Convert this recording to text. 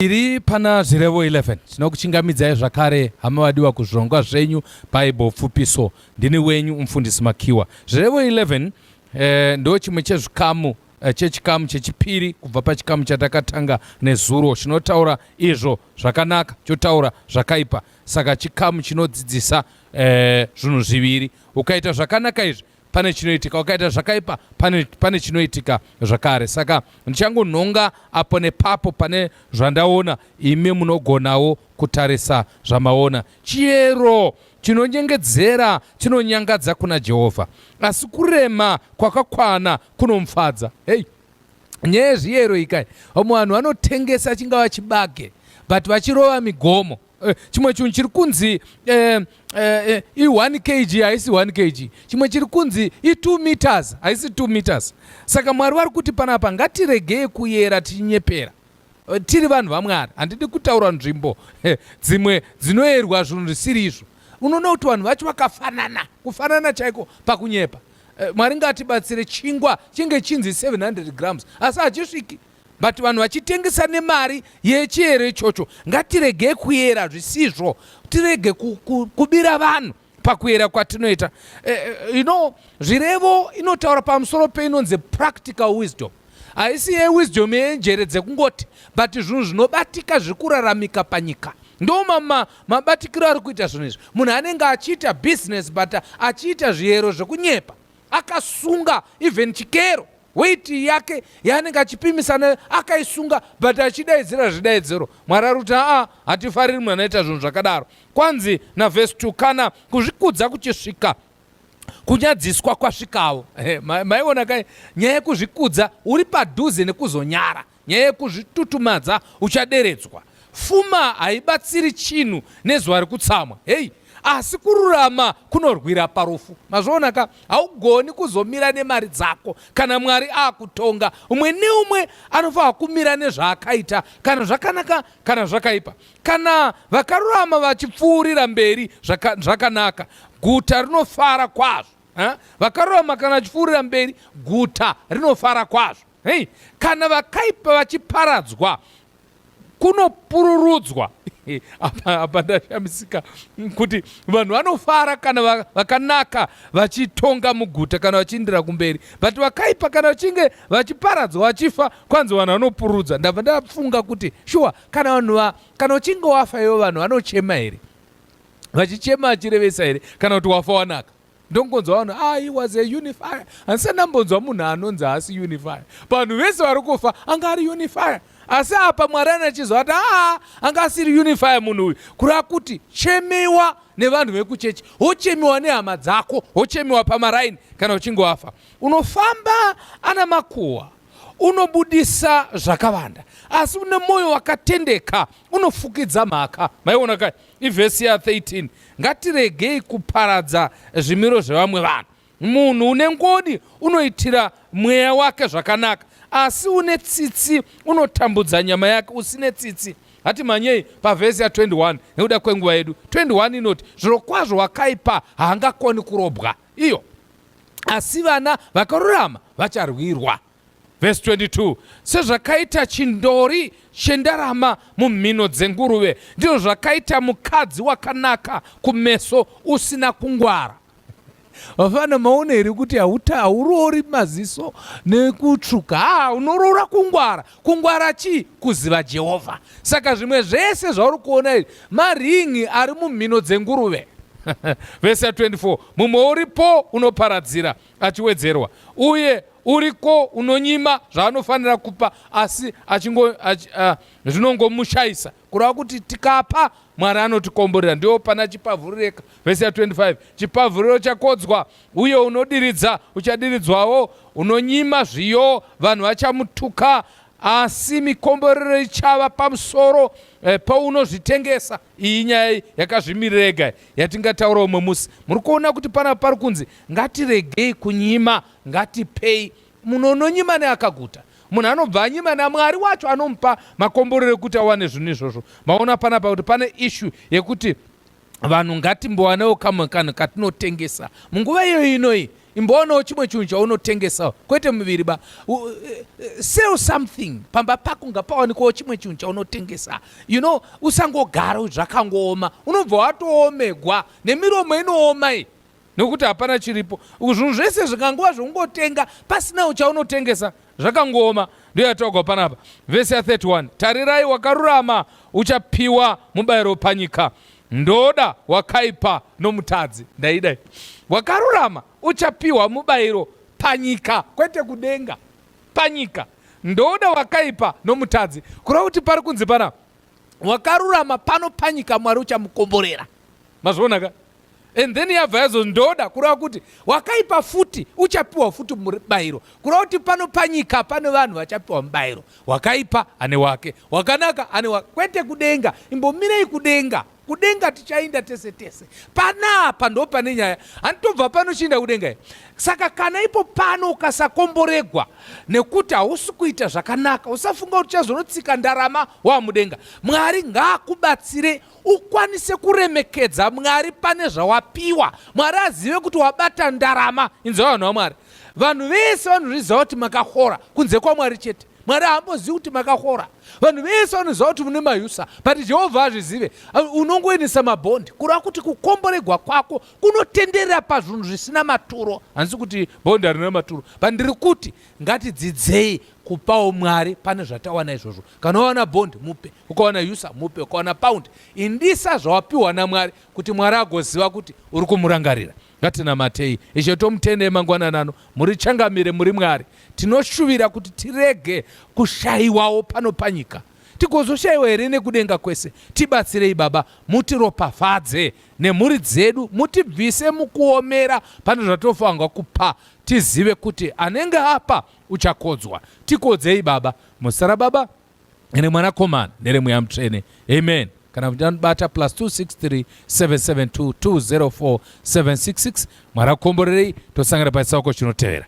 Tiri pana zvirevo 11 tinokuchingamidzai zvakare hama vadiwa kuzvirongwa zvenyu bible pfupiso ndini wenyu umfundisi makiwa zvirevo 11 eh, ndo chimwe chezvikamu eh, chechikamu chechipiri kubva pachikamu chatakatanga nezuro chinotaura izvo zvakanaka chotaura zvakaipa saka chikamu chinodzidzisa eh, zvinhu zviviri ukaita zvakanaka izvi pane chinoitika wakaita zvakaipa pane, pane chinoitika zvakare saka ndichangonhonga apo nepapo pane zvandaona imi munogonawo kutarisa zvamaona chiyero chinonyengedzera chinonyangadza kuna jehovha asi kurema kwakakwana kunomufadza hei nyaya yezviyero ikai vamwe vanhu vanotengesa chingava chibage but vachirova migomo Eh, chimwe chinhu chiri kunzi eh, eh, i1 kg haisi 1 kg chimwe chiri kunzi i2 meters haisi 2 meters saka mwari vari kuti panapa ngatiregei kuyera tichinyepera tiri vanhu vamwari handidi kutaura nzvimbo dzimwe dzinoyerwa zvinhu zvisiri izvo unoona kuti vanhu vacho vakafanana kufanana chaiko pakunyepa mwari ngatibatsire chingwa chinge chinzi 700 grams asi hachisviki but vanhu vachitengesa nemari yechiyero ichocho ngatiregei kuyera zvisizvo tirege kubira vanhu pakuyera kwatinoita eh, eh, you know zvirevo inotaura pamusoro peinonzi practical wisdom haisi yewisdom yenjere dzekungoti but zvinhu zvinobatika zvekuraramika panyika ndo mabatikiro ari kuita zvinhu izvi munhu anenge achiita business but achiita zviyero zvekunyepa akasunga even chikero weight yake yaanenge achipimisa nayo akaisunga but achidaidzira zvidaidziro mwari ari kuti aa hatifariri munhu anoita zvinhu zvakadaro kwanzi navhesi 2 kana kuzvikudza kuchisvika kunyadziswa kwasvikawo maiona kai nyaya yekuzvikudza uri padhuze nekuzonyara Nyaya yekuzvitutumadza uchaderedzwa. Fuma haibatsiri chinhu nezuva rekutsamwa. Heyi, asi kururama kunorwira parufu. Mazviona ka, haugoni kuzomira nemari dzako kana Mwari akutonga. Umwe neumwe anofanira kumira nezvaakaita, kana zvakanaka kana zvakaipa. Kana vakarurama vachipfuurira mberi zvaka, zvakanaka, guta rinofara kwazvo. Ha? Vakarurama kana vachipfuurira mberi, guta rinofara kwazvo. Hei, kana vakaipa vachiparadzwa kunopururudzwa apa apa ndashamisika kuti vanhu vanofara kana va- vakanaka vachitonga muguta kana vachiindira kumberi but vakaipa kana vachinge vachiparadzwa vachifa kwanzi vanhu vanopururudza ndabva ndafunga kuti shuwa kana vanhu va kana uchinge wafa ivo vanhu vanochema here vachichema vachirevesa here kana kuti wafa wanaka ndongonzwa vanhu ah he was a unifier handisati ndambonzwa munhu anonzi haasi unifier vanhu vese vari kufa anga ari unifier asi apa mwari anachizwa ati aa anga asiri unifier munhu uyu kureva kuti chemiwa nevanhu vekuchechi wochemiwa nehama dzako wochemiwa pamaraini kana uchinge wafa unofamba ana makuhwa unobudisa zvakavanda asi une mwoyo wakatendeka unofukidza mhaka maiona kai Ivhesi ya 13 ngatiregei kuparadza zvimiro zvevamwe vanhu. Munhu une ngoni unoitira mweya wake zvakanaka, asi une tsitsi unotambudza nyama yake. Usine tsitsi hati manyei pavhesi ya 21 nekuda kwenguva yedu 21 inoti zvirokwazvo wakaipa haangakoni kurobwa iyo asi vana vakarurama vacharwirwa Vhesi 22 Sezvakaita chindori chendarama mumhino dzenguruve, ndizvo zvakaita mukadzi wakanaka kumeso usina kungwara. Vafana maona here kuti hauta hauroori maziso nekutsvuka haa unoroora kungwara kungwara chii kuziva jehovha saka zvimwe zvese zvauri kuona izvi maringi ari mumhino dzenguruve vese 24 mumwe uripo unoparadzira achiwedzerwa uye uriko unonyima zvaanofanira kupa asi achingo ach, uh, zvinongomushaisa kureva kuti tikapa mwari anotikomborera ndiwo pana chipavhurireka vhesi ya 25 chipavhuriro chakodzwa uye unodiridza uchadiridzwawo unonyima zviyo vanhu vachamutuka asi mikomborero ichava pamusoro eh, paunozvitengesa iyi nyaya yakazvimirirega yatingataura umwe musi muri kuona kuti pana pari kunzi Ngatiregei kunyima, ngatipei. Munhu unonyima neakaguta. Munhu anobva anyima naMwari wacho anomupa makomborero ekuti awane zvinhu izvozvo. Maona panapa kuti pane ishu yekuti vanhu ngatimbowanewo kamwe kanhu katinotengesa munguva iyoyi inoyi imboonawo chimwe chinhu chaunotengesawo kwete muviri ba eh, sell something pamba pako ngapawanikawo chimwe chinhu chaunotengesa you know usangogara zvakangooma unobva watoomegwa nemiromo inooma iyi Nokuti hapana chiripo. Uku zvinhu zvese zvikanguva zvokungotenga pasina uchaunotengesa zvakangooma. Ndiyo yataugwa panapa. Vhesi ya 31. Tarirai wakarurama uchapiwa mubayiro panyika. Ndoda wakaipa nomutadzi. Ndaidai. Wakarurama uchapiwa mubayiro panyika kwete kudenga. Panyika. Ndoda wakaipa nomutadzi. Kureva kuti pari kunzi panapa. wakarurama pano panyika mwari uchamukomborera mazviona ka and then yabva yazo ndoda kureva kuti wakaipa futi uchapiwa futi mubayiro kureva kuti pano panyika pane vanhu vachapiwa mubayiro wakaipa ane wake wakanaka ane wake kwete kudenga imbomirei kudenga kudenga tichainda tese tese panapa ndo pane nyaya handitobva pano chiinda kudenga Saka kana ipo pano ukasakomboregwa nekuti hausi kuita zvakanaka, usafunga kuti uchazonotsika ndarama wamudenga. Mwari ngaakubatsire ukwanise kuremekedza Mwari pane zvawapiwa. Mwari azive kuti wabata ndarama. Inzwa vanhu vaMwari, vanhu vese vanozviziva kuti makahora kunze kwaMwari chete. Mwari haambozivi kuti makahora. Vanhu vese vanoziva kuti mune mayusa, but Jehovha azvizive. Unongoendesa mabhondi kureva kuti kukomboregwa kwako kunotenderera pazvinhu zvisina maturo handisi kuti bhondi harina maturo but ndiri kuti ngatidzidzei kupawo mwari pane zvatawana izvozvo kana wawana bond mupe ukawana usa mupe ukawana pound indisa zvawapiwa namwari kuti mwari agoziva kuti uri kumurangarira ngatinamatei ishe tomutende emangwananano muri changamire muri mwari tinoshuvira kuti tirege kushayiwawo pano panyika tigozoshaiwa here nekudenga kwese tibatsirei baba mutiropafadze nemhuri dzedu mutibvise mukuomera pane zvatofanirwa kupa tizive kuti anenge apa uchakodzwa tikodzei baba musara baba ene mwanakomana neremweya mutsvene amen kana kuti anobata plus 263 772 204 766 mwari akomborerei tosangana pachisaoko chinotevera